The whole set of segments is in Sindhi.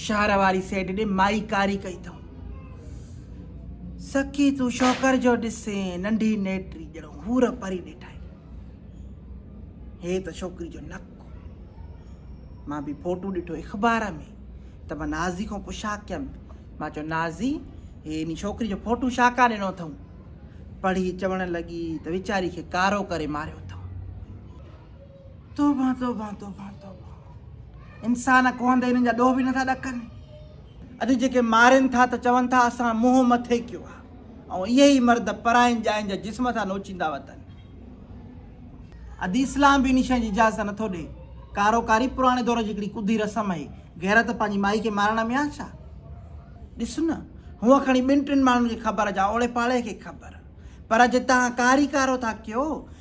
شهر واري سيڊ ڏي مائي ڪاري ڪئي اٿم سکي تون شوڪر جو ڏسين ننڍي نيٽري ڄڻو هور پري ڏيٺائي هي ته ڇوڪري جو نڪ مان به فوٽو ڏٺو اخبار ۾ ته مان نازي کان پڇا ڪيم مان چيو نازي هي ان ڇوڪري جو فوٽو شا کا ڏنو اٿم پڙهي چوڻ لڳي ته ويچاري کي ڪارو ڪري ماريو اٿم توبه توبه توبه توبه انسان ڪوهن تي انهن جا ڏوهه به نٿا ڏڪن اڄ جيڪي مارين ٿا ته چون ٿا اسان منهن مٿي ڪيو آهي ۽ اهي ئي مرد پرائين ڄائين جا جسم ٿا نوچيندا وتن ادي اسلام به ان شيء جي اجازت نٿو ڏي ڪارو ڪاري پراڻي دور جي هڪڙي ڪڌي رسم آهي غيرت پنهنجي مائي کي مارڻ ۾ آ ڇا ڏس نه هونء کڻي ٻن ٽن ماڻهن کي خبر جا اوڙي پاڙي کي خبر پر جي تان ڪاري ڪارو ٿا ڪيو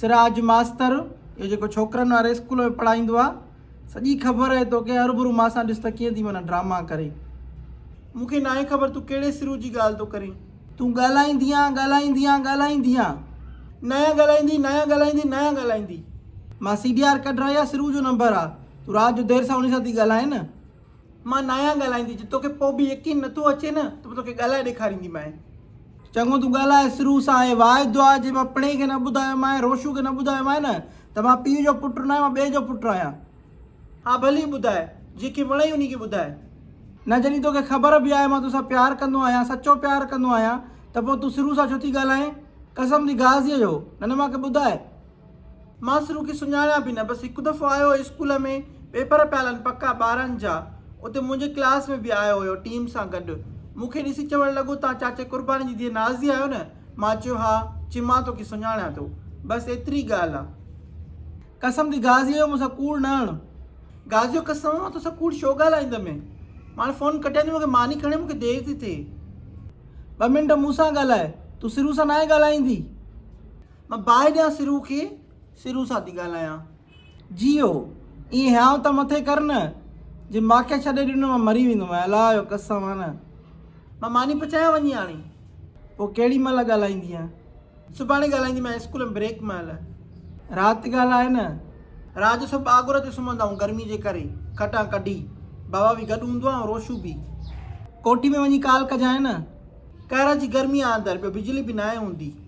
سراج ماستر اهو جيڪو ڇوڪرن واري اسڪول ۾ پڙهائيندو آ سڄي خبر اهي توکي هربرو ماسان ڏس ته ڪيئن ٿي معنيٰ ڊراما ڪري. مون کي ناهي خبر تون ڪهڙي سرو جي ڳالهه ٿو ڪرين. تون ڳالهائيندينء ڳالهائيندينء ڳالهائيندينء ناهيان ڳالهائيندي ناهيان ڳالهائيندي ناهيان ڳالهائيندي. مان سي ڊي آر ڪڍرائي آ سرو جو نمبر آ تون رات جو دير سان انهي سان ٿي ڳالهائين. مان ناهيان ڳالهائيندي، جي توکي پوء به يقين نٿو اچي نه ته پوء توکي ڳالهائي ڏيکارينديمانء. چڱو تون ڳالهاء سرو سان ۽ واء دعا جي مان پڻهئي کي نه ٻڌايومانء، روشو کي نه ٻڌايومانء نه ته مان پيء جو پٽ ناهيان، مان ٻئي جو پٽ آهيان. ها ڀلي ٻڌاء، جنهن کي وڻئي انهي کي ٻڌاء. نه جڏهن توکي خبر به آهي مان توسان پيار ڪندو آهيان، سچو پيار ڪندو آهيان ته پوء تون سرو سان ڇو ٿي ڳالهائين؟ قسم ٿي غازيء جو، نه نه مان کي ٻڌاء. مان سرو کي سڃاڻان به نه بس هڪ دفعو آيو هو اسڪول ۾ پيپر پيا هلن پڪا ٻارهن جا اتي منهنجي ڪلاس ۾ به آيو هيو ٽيم سان گڏ مون کي ڏسي چوڻ لڳو تان چاچي قرباني جي ڌيء نازي آهيو نه مان چيو ها چي مان توکي سڃاڻان ٿو بس ايتري ڳالهه آ. قسم ٿي غازيء جو مون سان ڪوڙ نه هڻ. غازيو قسم مان توسان ڪوڙ ڇو ڳالهائيندم هي ماڻ فون ڪٽياندي مون کي ماني کڻي مون کي دير ٿي ٿئي ٻه منٽ مون سان ڳالهاء تون سرو سان ناهي ڳالهائيندي مان باهه ڏيان سرو کي، سرو سان ٿي ڳالهايان. جيئو، ائين هيانء ته مٿي ڪر نه، جي ماکي ڇڏي ڏنو مان مري ويندو مئين، الله جو قسم آ نه. مان ماني پچايان وڃي هاڻي. پوء ڪهڙي مهل ڳالهائيندينء؟ سڀاڻي ڳالهائيندي مئين اسڪول ۾ بريڪ مهل. رات ڳالهاء نه. رات جو سڀ ٻاگهور تي سمهندا آهيون گرمي جي ڪري، کٽان ڪڍي. بابا به گڏ هوندو آ ۽ روشو به. ڪوٺي ۾ وڃي ڪال ڪجانء نه. قهر جي گرمي آ اندر، ٻيو بجلي به ناهي هوندي.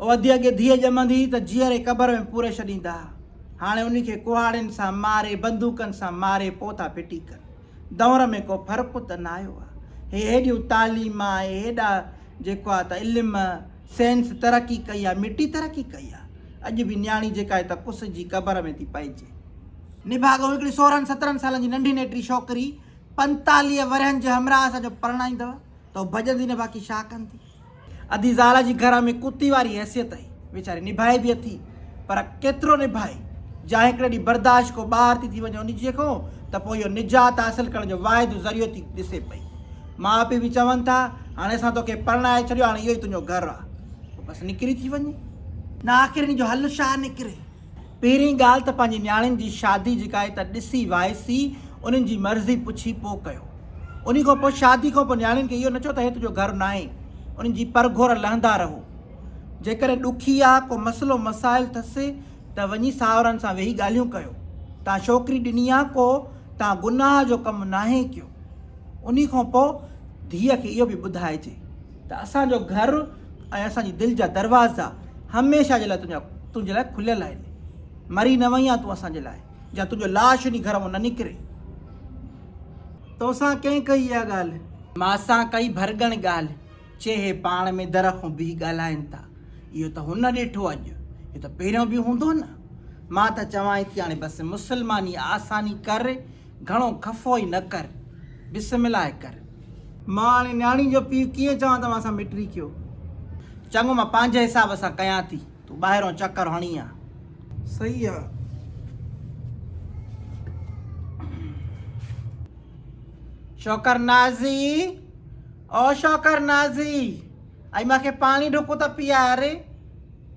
او ادي اڳي ڌيء ڄمندي هئي ته جيئري قبر ۾ پوري ڇڏيندا ها، هاڻي انهي کي ڪهاڙين سان ماري، بندوقن سان ماري پوء ٿا ڦٽي ڪن. دؤر ۾ ڪو فرق ته نه آيو آهي. هي هيڏيون تعليم، اهي هيڏا جيڪو آهي ته علم، سينس ترقي ڪئي آهي، مٽي ترقي ڪئي آهي. اڄ به نياڻي جيڪا آهي ته ڪس جي قبر ۾ ٿي پئجي. نڀاڳو هڪڙي سورهن سترهن سالن جي ننڍي نيٽري ڇوڪري پنتاليهه ورهين جي همراهه سان جو پرڻائيندؤ ته او ڀڄندي نه باقي ڇا ڪندي. ادي زال جي گهر ۾ ڪتي واري حيثيت ۽ ويچاري نڀائي به اٿي پر ڪيترو نڀائي جا هڪڙي ڏينهن برداشت کان ٻاهر ٿي ٿي وڃي انهي جي کان ته پوء اهو نجات حاصل ڪرڻ جو واحد ذريعو ٿي ڏسي پئي ماء پيء به چون ٿا هاڻي اسان توکي پرڻائي ڇڏيو هاڻي اهو ئي تنهنجو گهر آ پوء بس نڪري ٿي وڃي نه آخر انهي جو حل شاهه نڪري پهرين ڳالهه ته پنهنجي نياڻين جي شادي جي ڪائي ته ڏسي وائسي انهن جي مرضي پڇي پو ڪيو. انهي کان پو شادي کان پو نياڻين کي اهو نه چئو ته هي تنهنجو گهر ناهي. انهن جي پرگهور لهندا رهو. جيڪڏهن ڏکي يا ڪو مسئلو مسائل ٿس ته وڃي ساهرن سان ويهي ڳالهيون ڪيو. تان ڇوڪري ڏني آ ڪو تان گناهه جو ڪم ناهي ڪيو. انهي کان پو ڌيء کي اهو به ٻڌائجي. ته اسان جو گهر ۽ اسان جي دل جا دروازا هميشه جي لاء تنهنجا تنهنجي لاء کليل آهن. مري نه وئين آهين تون اسان جي لاء، جا تنهنجو لاش انهي گهر مان نه نڪري. توسان ڪنهن ڪئي اها ڳالهه؟ مان سان ڪئي ڀرڳڻ ڳالهه. چي هي پاڻ ۾ در کان بيهي ڳالهائين ٿا. اهو ته هن ڏٺو اڄ، اهو ته پهريون به هوندو نه. مان ته چوانئي ٿي هاڻي بس مسلماني آساني ڪر، گهڻو خفو ئي نه ڪر، بسم الله ڪر. مان هاڻي نياڻي جو پيء ڪيئن چوان توهان سان مٽري ڪيو. چڱو مان پنهنجي حساب سان ڪيان ٿي، تون ٻاهرئون چڪر هڻي آ. صحيح آ. شوڪر نازي، او شوڪر نازي، اڄ مان کي پاڻي ڍڪ ته پيئار.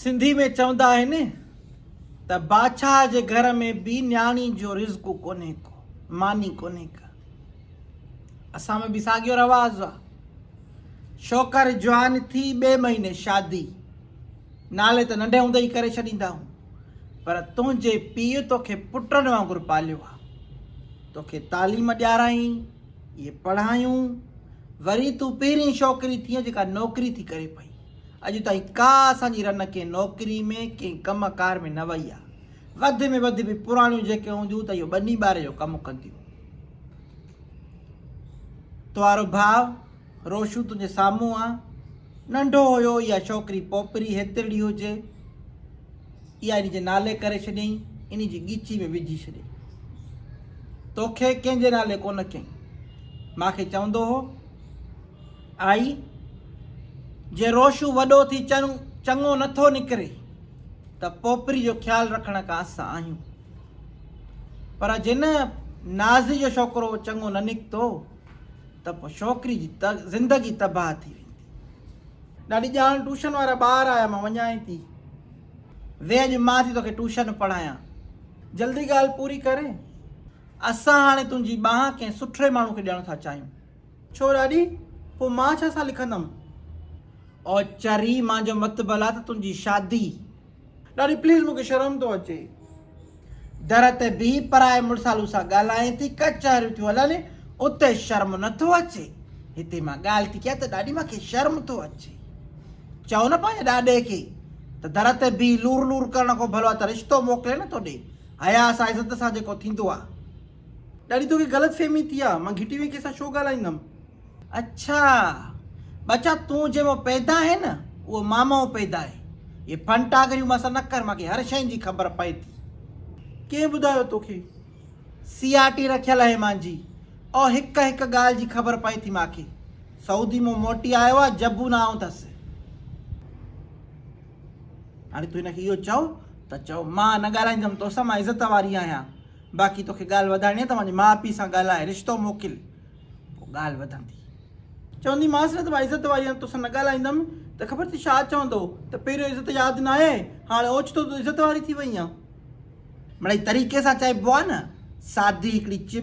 سنڌي ۾ چوندا آهن ته بادشاهه جي گهر ۾ به نياڻي جو رزق ڪونهي ڪو ماني ڪونهي ڪا اسان ۾ به ساڳيو رواز آ شوڪر جوان ٿي ٻي مهيني شادي نالي ته ننڍي هوندي ئي ڪري ڇڏيندا آهن پر تنهنجي پيء توکي پٽن وانگر پاليو آ توکي تعليم ڏيارائين اهي پڙهايون وري تون پهرين شوڪري ٿيئن جيڪا نوڪري ٿي ڪري پئي. اڄ تائين ڪا اسان جي رن ڪنهن نوڪري ۾ ڪنهن ڪم ڪار ۾ نه وئي آ. وڌ ۾ وڌ به پراڻيون جيڪي هونديون ته اهو ٻني ٻاري جو ڪم ڪنديون. تنهارو ڀاء روشو تنهنجي سامهون آ. ننڍو هيو اها شوڪري پوپري هيترڙي هجي. اها انهي جي نالي ڪري ڇڏيئي انهي جي ڳيچي ۾ وجهي ڇڏي توکي ڪنهن جي نالي ڪونه ڪيئي ماکي چوندو هو آئي جي روشو وڏو ٿي چن چڱو نٿو نڪري ته پوپري جو خيال رکڻ کان اسان آهيون پر جن نازي جو شوڪرو چڱو نه نڪتو ته پوء شوڪري جي زندگي تباهه ٿي ويندي ڏاڏي ڄاڻ ٽوشن وارا ٻار آيا مان وڃائين ٿي ويهه اڄ مان ٿي توکي ٽوشن پڙهايان جلدي ڳالهه پوري ڪري اسان هاڻي تنهنجي ٻانهن ڪنهن سٺڙي ماڻهو کي ڏيڻ ٿا چاهيون ڇو ڏاڏي پوء مان ڇا سا لکندم او چري مانجو متبل آ ته تنهنجي شادي ڏاڏي پليز مونکي شرم ٿو اچي. در تي بيهي پرائي مڙسالو سان ڳالهائين ٿي ڪچهريون ٿيون هلن اتي شرم نه ٿو اچي هتي مان ڳالهه ٿي ڪيان ته ڏاڏي مان کي شرم ٿو اچي چئو نه پنهنجي ڏاڏي کي ته در تي بيهي لور لور ڪرڻ کان ڀلو آ ته رشتو موڪلي نه ٿو ڏي حيا سان عزت سان جيڪو ٿيندو آ. ڏاڏي توکي غلط فهمي ٿي آ مان گهٽي ۾ ڪنهن سان ڇو ڳالهائيندم. اڇا ٻچا تون جنهن مان پيدا آهين نه اهو مان مان پيدا آهي اهي ڦن ٽاگريون مان سان نه ڪر مان کي هر شين جي خبر پئي ٿي. ڪنهن ٻڌايو توکي سي آر ٽي رکيل آهي مان جي او هڪ هڪ ڳالهه جي خبر پئي ٿي مان کي سعودي مون موٽي آيو آ جبو نه آئون ٿس. هاڻي تون هن کي اهو چئو ته چئو مان نه ڳالهائيندم توسان مان عزت واري آهيان باقي توکي ڳالهه وڌائڻي آهي ته پنهنجي ماء پيء سان ڳالهاء، رشتو موڪل، پوء ڳالهه وڌندي. چوندي مانس نه ته مان عزت واري آهيان توسان نه ڳالهائيندم ته خبر ٿي ڇا چوندو ته پهريون عزت ياد نه آهي هاڻي اوچتو تون عزت واري ٿي وئي آن. مڙئي طريقي سان چئبو آهي نه سادي هڪڙي چٻ.